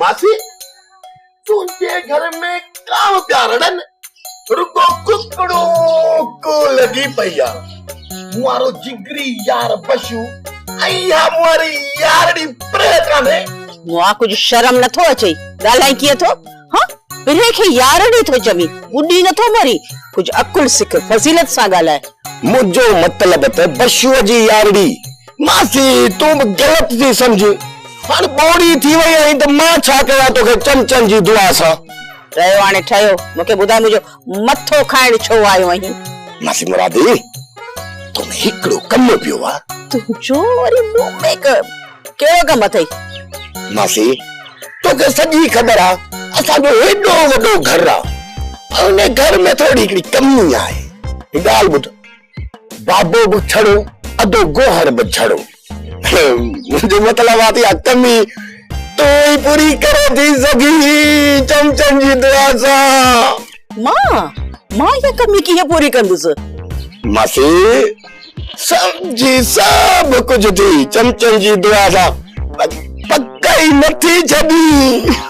ماسي تنهنجي گهر ۾ ڪا پيا رڙن رڳو ڪڪڙو ڪو لڳي پئي آ مارو جگري يار بشو ۽ اها ماري يارڙي پريهه ڪانهي مئا ڪجهه شرم نٿو اچئي ڳالهائين ڪيئن ٿو. ها پرهه کي يارڙي ٿو چوين، ٻڏي نٿو مرين، ڪجهه عقل سک، فضيلت سان ڳالهاء. منهنجو مطلب ته بشوء جي يارڙي. ماسي تون به غلط ٿي سمجهه، هاڻ ٻوڙي ٿي وئي آهين ته مان ڇا ڪيان توکي چمچن جي دعا سان. رهيو هاڻي ٺهيو، مون کي ٻڌاء منهنجو. مٿو کائڻ ڇو آيو آهين؟ ماسي مرادي، تو ۾ هڪڙو ڪم پيو آ. تنهنجو وري مون ۾ ڪهڙو ڪم اٿئي؟ ماسي، توکي سڄي خبر آ، اسان جو هيڏو وڏو گهر آ. ان گهر ۾ ٿورڙي هڪڙي ڪمي آهي. هڪ ڳالهه ٻڌ، بابو به ڇڙو، ادو گوهر به ڇڙو. منهنجو مطلب آ ٿي آ ڪمي تون ئي پوري ڪري ٿي سگهين چمچن جي دعا سان. مان؟ مان اها ڪمي ڪيئن پوري ڪندس؟ ماسي سمجهي سڀ ڪجهه ٿي چمچن جي دعا سان پر پڪ ئي نه ٿي ڇڏين.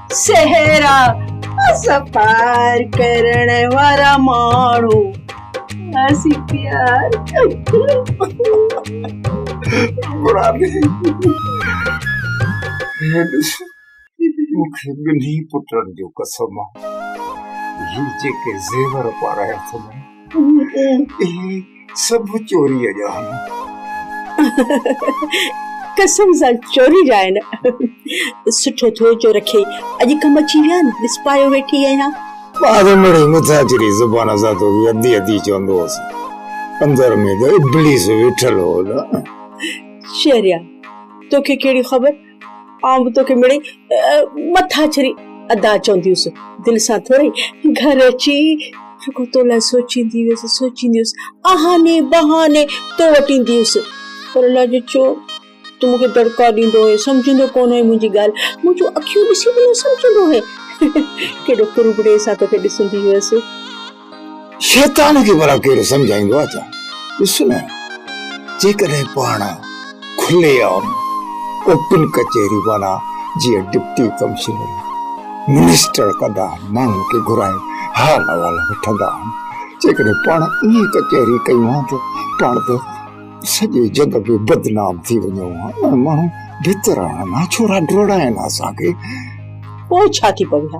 صحرا سفر ڪرڻ وارا ماڻهو اسين پيار مرادي هي ڏس مون کي ٻنهي پٽن جو قسم آ زو جيڪي زيور پارايا اٿم ڪوڙ ڪهي سڀ چوريء جا آهن. قسم سان چوري جا آهن. سٺو ٿيو جو رکي اڄ ڪم اچي ويا آهن، ڏس پايو ويٺي آهيان. ٻار مڙئي مٿاڇري زبان سان توکي ادي ادي چوندو هوس. اندر ۾ ته ابليس ويٺل هو نه. شهريار توکي ڪهڙي خبر؟ آئون به توکي مڙئي مٿاڇري ادا چوندي هيس. دل سان ٿورئي گهر اچي رڳو تو لاء سوچيندي هيس، سوچيندي هيس. اهاني بهاني تو وٽ ايندي هيس. پر الله جو ڇو تون مون کي دڙڪا ڏيندو هئين، سمجهندو ڪونه هئين منهنجي ڳالهه، منهنجون اکيون ڏسي به نه سمجهندو هئين. ڪيڏو ڪرٻڙي سان توکي ڏسندي هيس. شيطان کي ڀلا ڪير سمجهائيندو آهي ته ڏس نه جيڪڏهن پاڻ کلي عام اوپن ڪچهري معنيٰ جيئن ڊپٽي ڪمشنر منسٽر ڪندا آهن ماڻهن کي گهرائي حال احوال وٺندا آهن جيڪڏهن پاڻ ائين ڪچهري ڪيون ها ته پاڻ ته سڄي جڳ ۾ بدنام ٿي وڃون ها ۽ ماڻهو بھتر آهن ها ڇورا ڊوڙائين ها اسان کي. پوء ڇا ٿي پوي ها؟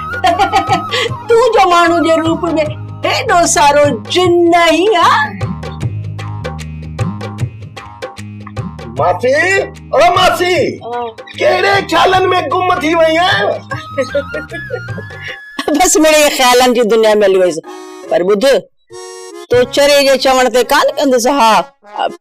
تون جو ماڻهو جي روپ ۾ هيڏو سارو جن ناهي ها ماسي او ماسي ڪهڙي خيالن ۾ گم ٿي وئي آهي بس مڙي خيالن جي دنيا ۾ هلي ويس پر ٻڌ تو چري جي چوڻ تي ڪان ڪندس ها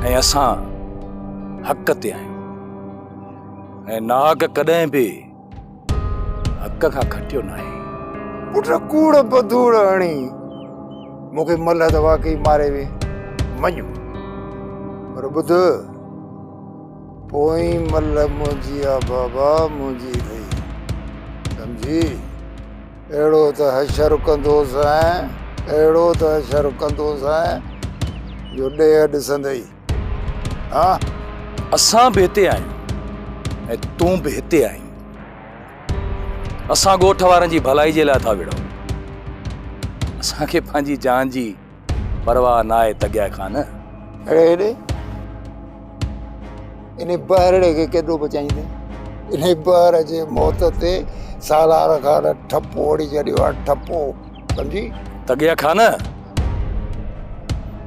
۽ اسان حق تي آهيون ۽ ناحق ڪڏهن به حق کان کٽيو ناهي پٽ ڪوڙ بدوڙ هڻي مون کي ملهه ته واقعي ماري وي مڃ پر ٻڌ پوئي ملهه منهنجي آ بابا منهنجي اٿئي سمجهي اهڙو ته حشر ڪندوسانء، اهڙو ته حشر ڪندوسانء، جو ڏيهه ڏسندئي، ها! اسان به هتي آهيون ۽ تون به هتي آهين. اسان ڳوٺ وارن جي ڀلائي جي لاء ٿا وڙهون. اسان کي پنهنجي جان جي. پرواهه ناهي تڳيا کان نه. اڙي هيڏي، انهي بهرڙي کي ڪيڏو بچائيندين؟ انهي بهر جي موت تي سالار خان ٺپو هڻي ڇڏيو آهي، ٺپو سمجهي؟ تڳيا کان نه،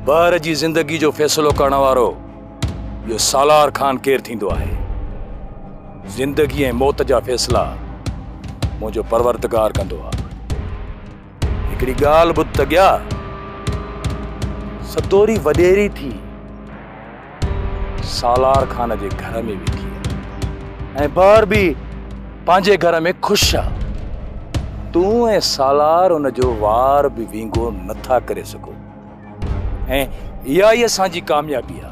بهر جي زندگي جو فيصلو ڪرڻ وارو ٻيو سالار خان ڪير ٿيندو آهي؟ زندگي ۽ موت جا فيصلا منهنجو پروردگار ڪندو آهي. هڪڙي ڳالهه ٻڌ ته ڳيا، ستوري وڏيري ٿي سالار خان جي گهر ۾ ويٺي آهي ۽ بهر به پنهنجي گهر ۾ خوش آ تون ۽ سالار ان جو وار به وينگو نٿا ڪري سگهو ۽ اها ئي اسان جي ڪاميابي آ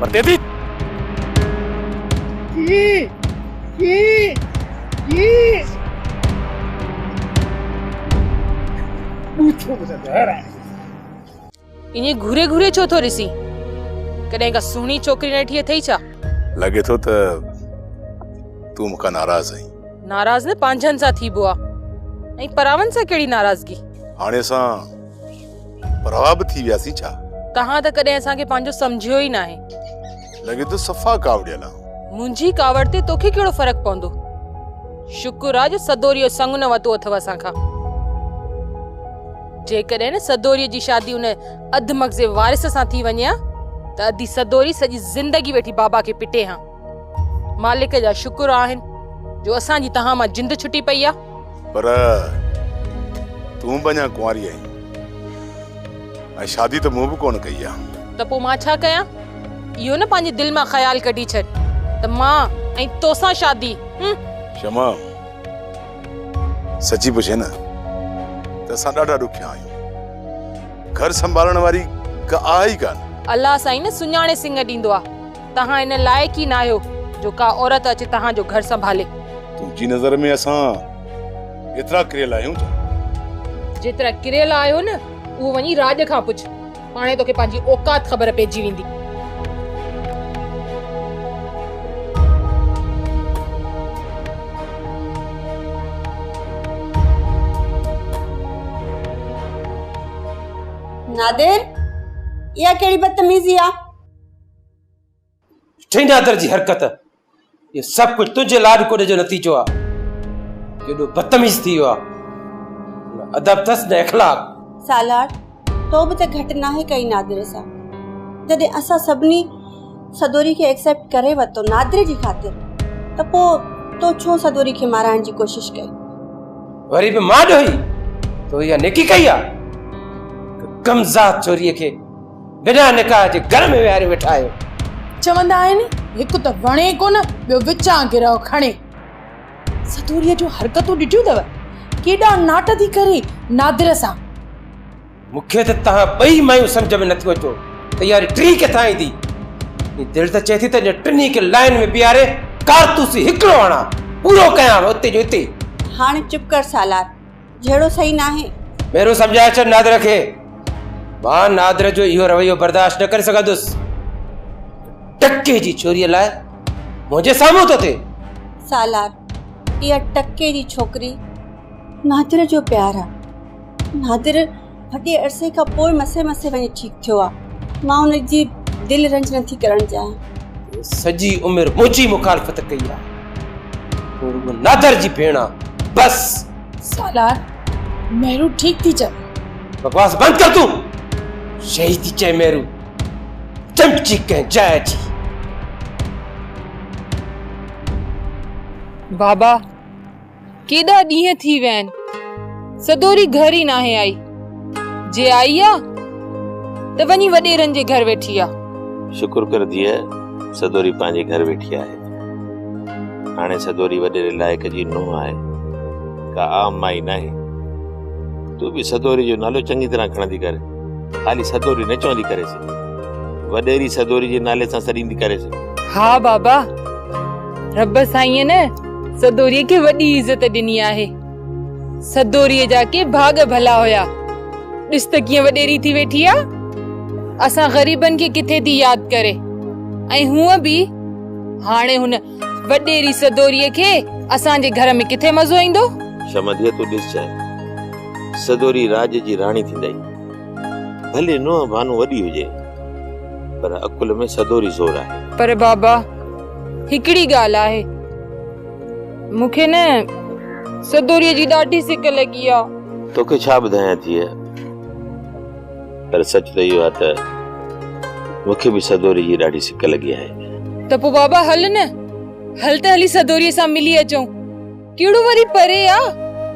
پرتي ٿي. جي جي جي ٻوڇو به ته زهر آهي. ائين گهوري گهوري ڇو ٿو ڏسين؟ ڪڏهن ڪا سهڻي ڇوڪري ناٺي اٿئي ڇا؟ لڳي ٿو ته تون مون کان ناراض آهين. ناراض نه پنهنجن سان ٿيبو آهي ۽ پراون سان ڪهڙي ناراضگي. هاڻي اسان پر اوها به ٿي وياسين ڇا؟ توهان ته ڪڏهن اسان کي پنهنجو سمجهيو ئي ناهي. لڳي ٿو صفا ڪاوڙيل آ. منهنجي ڪاوڙ تي توکي ڪهڙو فرق پوندو. شڪر آ جو سدوري جو سڱ نه وتو اٿئو اسان کان. جيڪڏهن نه سدوري جي شادي ان اڌ مغزي وارث سان ٿي وڃي ها ته ادي سدوري سڄي زندگي ويٺي بابا کي پٽي ها. مالڪ جا شڪر آهن جو اسان جي تهان مان جند ڇٽي پئي آ. پر تون به اڃا ڪنواري آهين ۽ شادي ته مون به ڪونه ڪئي آ. ته پوء مان ڇا ڪيان؟ اهو نه پنهنجي دل مان خيال ڪڍي ڇڏ ته مان ۽ توسان شادي هم. شمع سچي پڇين نه ته اسان ڏاڍا ڏکيا آهيون. گهر سنڀالڻ واري ڪا آهي ئي ڪانه. الله سائين نه سڃاڻي سڱ ڏيندو آ. توهان ان لائق ئي ناهيو جو ڪا عورت اچي توهان جو گهر سنڀالي. تنهنجي نظر ۾ اسان ايترا ڪريل آهيون ڇا؟ جيترا ڪريل آهيو نه اهو وڃي راڄ کان پڇ، پاڻهي توکي پنهنجي اوقات خبر پئجي ويندي. نادر! اها ڪهڙي بدتميزي آ؟ ٺهي نادر جي حرڪت یہ سب کچھ تجھے لاڈ کوڑے جو نتیجو آ جيڏو بدتميز ٿي ويو آ ادب تس نه اخلاق سالار تو به ته گهٽ ناهي ڪئي نادر سان جڏهن اسان سڀني سدوري کي ايڪسيپٽ ڪري ورتو نادر جي خاطر ته پو تو ڇو سدوري کي مارائڻ جي ڪوشش ڪئي وري به مان ڏوهي تو يا نيڪي ڪئي آ ڪم ذات چوري کي بنا نڪاح جي گهر ۾ ويهاريو ويٺا آهيو. چوندا آهن هڪ ته وڻي ڪونه ٻيو وچان گرهه کڻي. سدوريء جون حرڪتون ڏٺيون اٿو ڪيڏا ناٽ ٿي ڪري نادر سان. مون کي ته توهان ٻئي مايون سمجهه ۾ نٿيون اچو ته ياري ٽين ڪٿان ايندي. ائين دل ته چئي ٿي ته اڄ ٽنهي کي لائين ۾ بيهاري ڪارتوس هڪڙو هڻان پورو ڪيان اتي جو اتي. هاڻ چپ ڪر سالار جهڙو صحيح ناهي. ميرو سمجهائي ڇڏ نادر کي. مان نادر جو اهو رويو برداشت نه ڪري سگهندس. ٽڪي جي ڇوري لاء منهنجي سامهون ٿو ٿئي. سالار اها ٽڪي جي ڇوڪري نادر جو پيار آ. نادر وڏي عرصي کان پوء مسي مسي وڃي ٺيڪ ٿيو آ مان ان جي دل رنج نه ٿي ڪرڻ چاهيان. سڄي عمر منهنجي مخالفت ڪئي آ تون رڳو نادر جي ڀيڻ آ بس. سالار مهرو ٺيڪ ٿي چوي. بڪواس بند ڪر تون شهي ٿي چئي مهرو چمچي ڪنهن جاء جي. بابا. ڪيڏا ڏينهن ٿي ويا آهن، سدوري گهر ئي ناهي آئي. جي آئي آ ته وڃي وڏيرن جي گهر ويٺي آ. شڪر ڪر ڌيء، سدوري پنهنجي گهر ويٺي آهي. هاڻي سدوري وڏيري لائق جي نونهن آهي، ڪا عام مائي ناهي. تون به سدوري جو نالو چڱي طرح کڻندي ڪر. خالي سدوري نه چوندي ڪريس. وڏيري سدوري جي نالي سان سڏيندي ڪريس. ها بابا، رب سائينء نه سدوري کي وڏي عزت ڏني آهي. سدوري جا ڪي ڀاڳ ڀلا هيا. ڏس ته ڪيئن وڏيري ٿي ويٺي آ. اسان غريبن کي ڪٿي ٿي ياد ڪري. ۽ هونء به هاڻي هن وڏيري سدوري کي اسان جي گهر ۾ ڪٿي مزو ايندو. شمديء تون ڏس چانهه. سدوري راڄ جي راڻي ٿيندئي. ڀلي نونهن ڀانو وڏي هجي. پر عقل ۾ سدوري زور آهي. پر بابا! هڪڙي ڳالهه آهي مون کي نه سدوريء جي ڏاڍي سڪ لڳي آ. توکي ڇا ٻڌايان ڌيء پر سچ ته اهو آ ته مون کي به سدوريء جي ڏاڍي سڪ لڳي آهي. ته پوء بابا هل نه هل ته هلي سدوريء سان ملي اچون. ڪهڙو وري پري آ،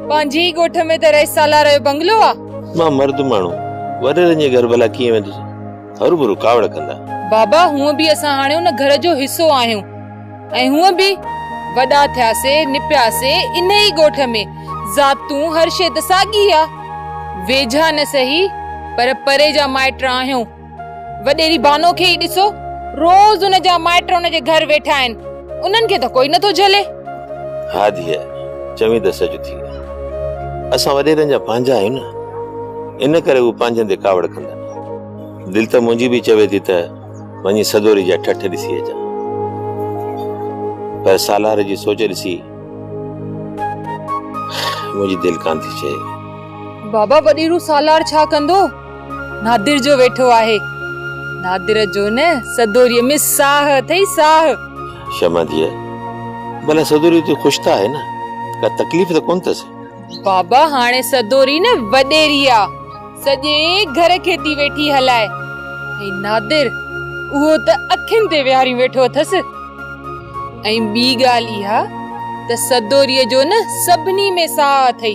پنهنجي ئي ڳوٺ ۾ ته رئيس سالار جو بنگلو آ. مان مرد ماڻهو، وريرن جي گهر ڀلا ڪيئن ويندس، هروڀرو ڪاوڙ ڪندا. بابا هونء به اسان هاڻي ان گهر جو حصو آهيون ۽ هونء به وڏا ٿياسي، نپياسي انهي ئي ڳوٺ ۾، ذاتون هر شيء ته ساڳي آ، ويجها نه سهي پر پري جا مائٽ آهيون. وڏيري بانو کي ئي ڏسو، روز ان جا مائٽ ان جي گهر ويٺا آهن، انهن کي ته ڪوئي نٿو جهلي. ها ڌيء، چوين ته سچ ٿي. اسان وڏيرن جا پنهنجا آهيون نه، ان ڪري هو پنهنجن تي ڪاوڙ ڪندا نه. دل ته منهنجي به چوي ٿي ته وڃي سدوري جا ٺٺ ڏسي اچان، پر سالار جي سوچ ڏسي منهنجي دل ڪانه ٿي چئي. بابا وڏيرو سالار ڇا ڪندو؟ نادر جو ويٺو آهي. نادر جو نه سدوريء ۾ ساهه اٿئي ساهه. شمع ڌيء، ڀلا سدوري اتي خوش ته آهي نه؟ ڪا تڪليف ته ڪونه اٿس؟ بابا هاڻي سدوري نه وڏيري آ، سڄي گهر کي ٿي ويٺي هلائي ۽ نادر اهو ته اکين تي ويهاريون ويٺو اٿس. ۽ ٻي ڳالهه اها ته سدوريء جو نه سڀني ۾ ساهه اٿئي.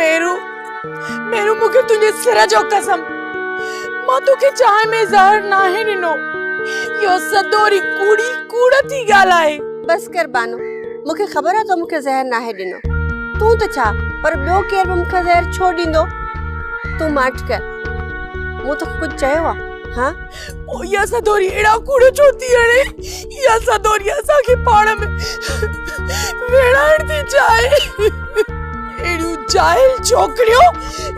ميرو ميرو مون کي تنهنجي سر جو قسم مان توکي چانهه ۾ زهر ناهي ڏنو اهو سدوري ڪوڙي ڪوڙ ٿي ڳالهه آهي بس ڪر بانو مون کي خبر آهي تو مون کي زهر ناهي ڏنو تون ته ڇا پر ٻيو ڪير به مون کي زهر ڇو ڏيندو تون ماٺ ڪر مون توکي ڪجهه چيو آهي ها پوء اها سدوري اهڙا ڪوڙ ڇو ٿي هڻي؟ اها سدوري اسان کي پاڻ ۾ ويڙهائڻ ٿي چاهي. اهڙيون جاهل ڇوڪريون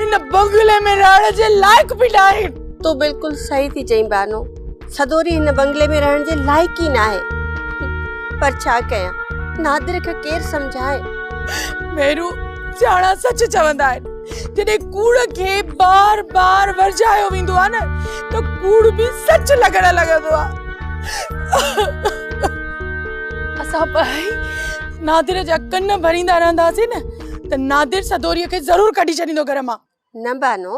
هن بنگلي ۾ رهڻ جي لائق به ناهن. تون بلڪل صحيح ٿي چئين بانو. سدوري هن بنگلي ۾ رهڻ جي لائق ئي ناهي. پر ڇا ڪيان؟ نادر کي ڪير سمجهائي؟ ميرو سياڻا سچ چوندا آهن. جڏهن ڪوڙ کي بار بار ورجايو ويندو آهي نه ته ڪوڙ به سچ لڳڻ لڳندو آهي اسان ٻئي نادر جا ڪن ڀريندا رهنداسين نه ته نادر سدوري کي ضرور ڪڍي ڇڏيندو گهر مان نه بانو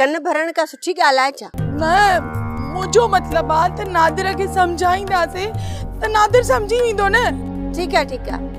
ڪن ڀرڻ ڪا سٺي ڳالهه آهي ڇا نه منهنجو مطلب آهي ته نادر کي سمجهائينداسين ته نادر سمجهي ويندو نه ٺيڪ آهي ٺيڪ آهي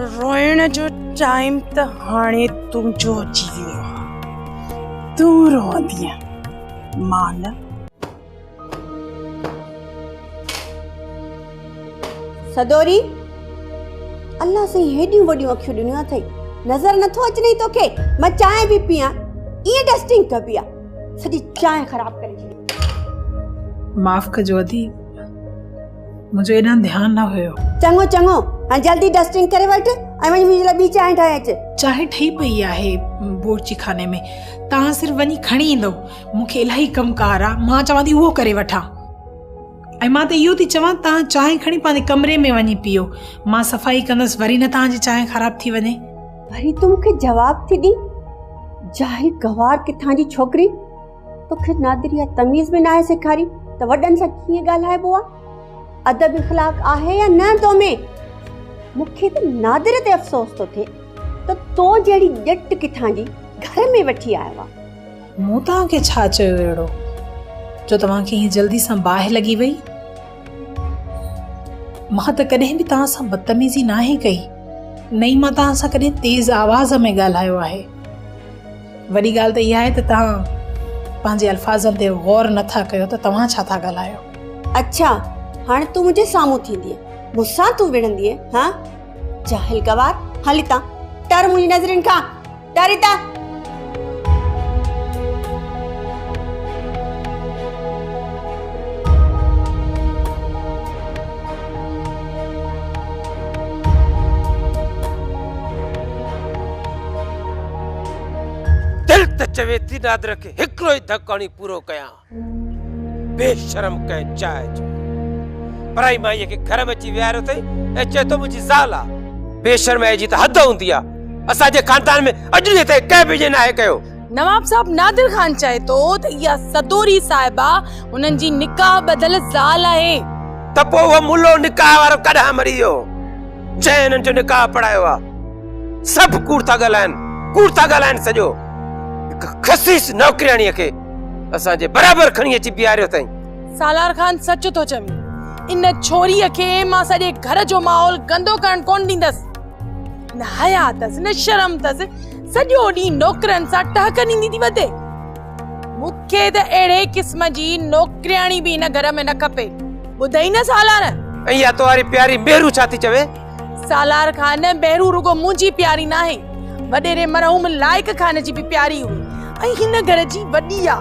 روئڻ جو چاهيم ته هاڻي تنهنجو جيئي تون روئندينء مان نه. سدوري! الله سائين هيڏيون وڏيون اکيون ڏنيون اٿئي، نظر نه ٿو اچنئي توکي؟ مان چانهه به پيئان، ائين ڊسٽنگ ڪبي آ، سڄي چانهه خراب ڪري ڇڏي. معاف ڪجو اديب! منهنجو ايڏانهن ڌيان نه هيو. چڱو چڱو، هاڻي جلدي ڊسٽنگ ڪري وٺ ۽ وڃي منهنجي لاء ٻي چانهه ٺاهي اچ. چانهه ٺهي پئي آهي بورچي خاني ۾، توهان صرف وڃي کڻي ايندؤ. مون کي الاهي ڪم ڪار آ، مان چوان ٿي اهو ڪري وٺان. ۽ مان ته اهو ٿي چوان توهان چانهه کڻي پنهنجي ڪمري ۾ وڃي پيئو. مان صفائي ڪندس، وري نه توهان جي چانهه خراب ٿي وڃي. وري تون مون کي جواب ٿي ڏين، جاهل گنوار ڪٿان جي ڇوڪري. توکي نادري يا تميز به ناهي سيکاري ته وڏن سان ڪيئن ڳالهائبو آهي ادب اخلاق آهي يا نه تو ۾ مونکي ته نادر تي افسوس ٿو ٿئي ته تو جهڙي ڄٽ ڪٿان جي گهر ۾ وٺي آيو آهي مون توهان کي ڇا چيو اهڙو جو توهان کي هي جلدي سان باهه لڳي وئي مان ته ڪڏهن به توهان سان بدتميزي ناهي ڪئي نه ئي مان توهان سان ڪڏهن تيز آواز ۾ ڳالهايو آهي وڏي ڳالهه ته اها آهي ته توهان پنهنجي الفاظن تي غور نه ٿا ڪيو ته توهان ڇا ٿا ڳالهايو. اڇا هاڻي تون منهنجي سامهون ٿيندينء مون سان تون وڙهندينء ها جاهل گوار هل هتان ٽر منهنجي نظرين کان ٽر هتان. دل ته چوي ٿي نادر کي هڪڙو ئي ڌڪ هڻي پورو ڪيان. بي شرم ڪنهن چاء جو پرائي مائيء کي گهر ۾ اچي ويهاريو اٿئي ۽ چئي ٿو منهنجي زال آ. بي شرمائيء جي ته حد هوندي آ. اسان جي خاندان ۾ اڄ ڏينهن تائين ڪنهن به ائين ناهي ڪيو. نواب صاحب نادر خان چئي ٿو ته اها سدوري صاحبه هنن جي نڪاح ٻڌل زال آهي. ته پوء اهو ملو نڪاح وارو ڪڏهن مري ويو جنهن هنن جو نڪاح پڙهايو آ. سڀ ڪوڙ ٿا ڳالهائن ڪوڙ ٿا ڳالهائن سڄو هڪ خسيس نوڪرياڻيء کي اسان جي برابر کڻي اچي بيهاريو اٿائين سالار خان سچ ٿو چوين ان ڇوريء کي مان سڄي گهر جو ماحول گندو ڪرڻ ڪونه ڏيندس نه حيا اٿس نه شرم اٿس سڄو ڏينهن نوڪرن سان ٽهڪ ڏيندي ٿي وتي مون کي ته اهڙي قسم جي نوڪرياڻي به هن گهر ۾ نه کپي ٻڌئي نه سالار ۽ اها تهاري پياري مهرو ڇا ٿي چوي سالار خان، بهرو رڳو منهنجي پياري ناهي، وڏيري مرحوم لائق خان جي به پياري هئي ۽ هن گهر جي وڏي آ،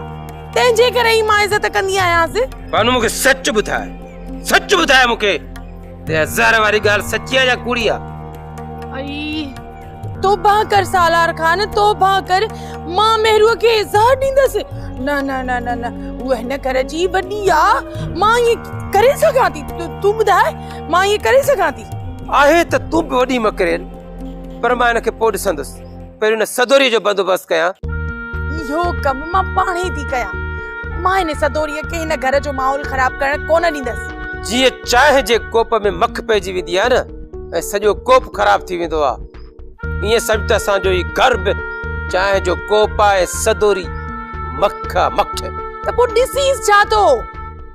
تنهن جي ڪري ئي مان عزت ڪندي آهيانس. بانو مون کي سچ ٻڌاء، سچ ٻڌاء مون کي ته اها زهر واري ڳالهه سچي آ يا ڪوڙي آ؟ اي. توبه ڪر سالار خان توبه ڪر مان مهروء کي اظهار ڏيندس نه نه نه نه نه هو هن گهر جي وڏي آ مان هي ڪري سگهان ٿي تون ٻڌاء مان هي ڪري سگهان ٿي آهي ته تون به وڏي مڪرين پر مان هن کي پوء ڏسندس پهريون هن سدوري جو بندوبست ڪيان اهو ڪم مان پاڻ ئي ٿي ڪيان مان هن سدوري کي هن گهر جو ماحول خراب ڪرڻ ڪونه ڏيندس جيئن چانهه جي ڪوپ ۾ مک پئجي ويندي آ نه ۽ سڄو ڪوپ خراب ٿي ويندو آ ائين سمجھ ته اسان جو هي گهر به چانهه جو ڪوپ آ ۽ سدوري مک آ مک ته پوء ڏسيس ڇا ٿو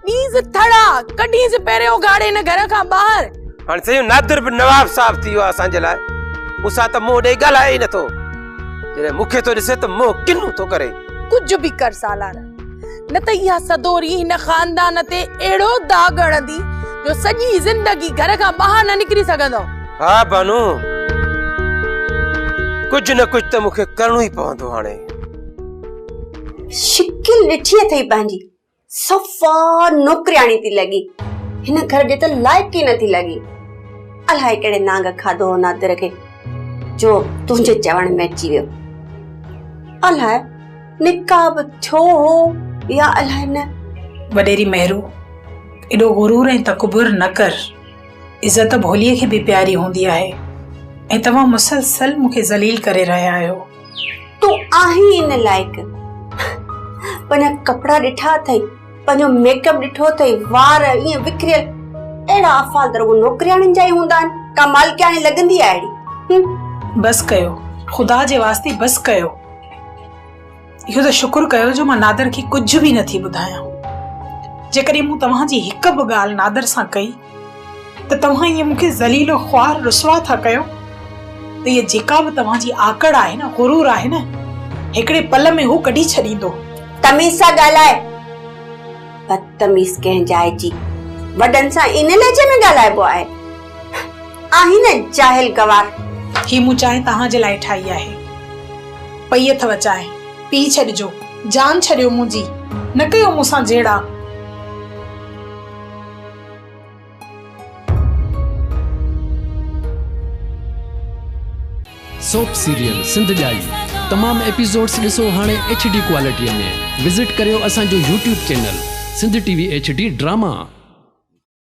ڏيس ٿڙا ڪڍيس پهرين اگهاڙي هن گهر کان ٻاهر هاڻي سيون نادر به نواب صاحب ٿي ويو آ اسان جي لاء مون سان ته منهن ڏيئي ڳالهائي ئي نٿو جڏهن مون کي ٿو ڏسي ته منهن ڪنو ٿو ڪري ڪجهه به ڪر سالار نه ته اها سدوري هن خاندان تي اهڙو داغ هڻندي جو سڄي زندگي گهر کان ٻاهر نه نڪري سگهندو ها بانو ڪجهه نه ڪجهه ته مونکي ڪرڻو ئي پوندو هاڻي شڪل ڏٺي اٿئي پنهنجي صفا نوڪرياڻي ٿي لڳي هن گهر جي ته لائق ئي نٿي لڳي الائي ڪهڙي نانگ کاڌو هو نادر کي جو تنهنجي چوڻ ۾ اچي ويو الائي نڪاح به ٿيو هو يا الائي نه. وڏيري مهرو ايڏو غرور ۽ تڪبر نه ڪر، عزت ڀوليء کي به پياري هوندي آهي ۽ توهان مسلسل مون کي ذليل ڪري رهيا آهيو. تون آهين ئي نه لائق، پنهنجا ڪپڙا ڏٺا اٿئي، پنهنجو ميڪ اپ ڏٺو اٿئي، وار ائين وکريل، اهڙا افعال ته رڳو نوڪرياڻين جا ئي هوندا آهن، ڪا مالڪياڻي لڳندي آهي اهڙي. بس ڪيو، خدا جي واسطي بس ڪيو. اهو ته شڪر ڪيو جو مان نادر کي ڪجهه به نٿي ٻڌايان جيڪڏهن مون توهان جي هڪ به ڳالهه نادر سان ڪئي ته توهان ائين مون کي ذليل و خوار رسوا ٿا ڪيو ته هيء جيڪا به توهان جي آڪڙ آهي نه غرور آهي نه هڪڙي پل ۾ هو ڪڍي ڇڏيندو. تميز سان ڳالهاء بدتميز ڪنهن جاء جي وڏن سان ان لهجي ۾ ڳالهائبو آهي. آهين نه جاهل گوار. هي مون چانهه توهان جي لاء ٺاهي آهي. پئي اٿو چانهه، پي ڇڏجو. جان ڇڏيو منهنجي، نه ڪيو مون سان جهيڙا. سوپ سيريل سنڌ ڄائي تمام ايپيسوڊس ڏسو هاڻي ايڇ ڊي ڪوالٽيء ۾ وزٽ ڪريو اسان جو YouTube channel Sindh T V H D drama.